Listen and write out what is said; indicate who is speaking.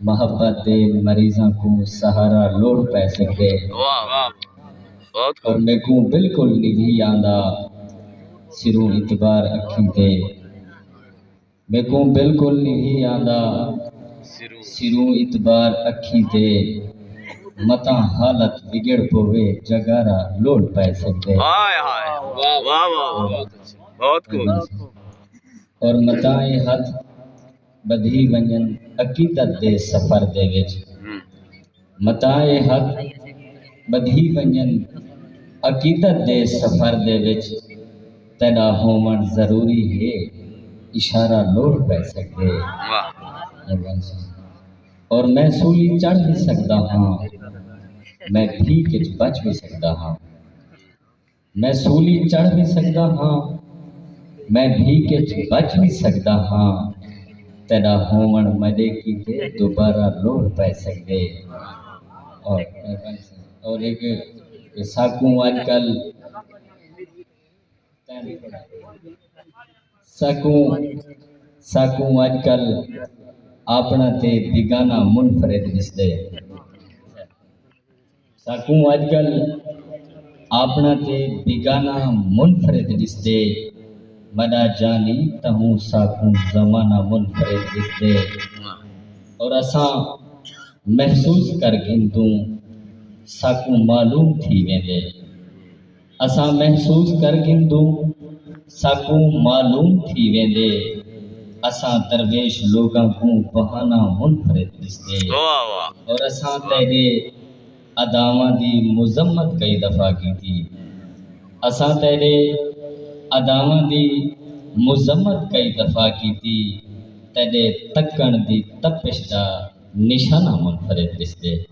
Speaker 1: محبت دے
Speaker 2: مریضاں کوں سہارا لوڑھ پئے سگدے پر
Speaker 1: میکوں
Speaker 2: بالکل ندھی آندا سروں اتبار اکھیں تے میکوں بالکل ندھی آندا سروں اتبار اکھیں تے متاں حالت وگڑ پووے جاگارا لوڑھ پئے سگدے
Speaker 1: اور
Speaker 2: متاں اے ہتھ ٻدھی ونڄن عقیدت دے سفر دے وچ متاع حق ٻدھی ونڄن عقیدت دے سفر دے وچ تیݙا ہووݨ ضروری ہے اشارہ لوڑھ پئے سڳدے اور میں سولی چڑھ وی سڳدا ہاں میں بھیک اچ بچ وی سڳدا ہاں میں سولی چڑھ وی سگدا ہاں میں بھیک اچ بچ وی سگدا ہاں تیڈا ہوونڑ میڈے کیتے دوبارہ لوڑھ پے سگدے اور ہک کہ ساکوں اج کل ساکوں ساکوں اج کل آپنڑاں تے بیگانہ منفرد ڈسدے۔ ساکوں اج کل آپنڑاں تے بیگانہ منفرد ڈسدے مڈا جانی تہوں ساکوں زمانہ منفرد ڈسدے اور اساں محسوس کر گھندوں ساکوں معلوم تھی ویندے۔ اساں محسوس کر گھندوں ساکوں معلوم تھی ویندے اساں درویش لوگاں کوں بہانہ منفرد ڈسدے اور اساں تیڈے اداواں دی مذمت کئی دفعہ کیتی اساں تیڈے اداواں دی مذمت کئی دفعہ کیتی تیڈے تکن دی تپش دا نشانہ منفرد ڈسدے۔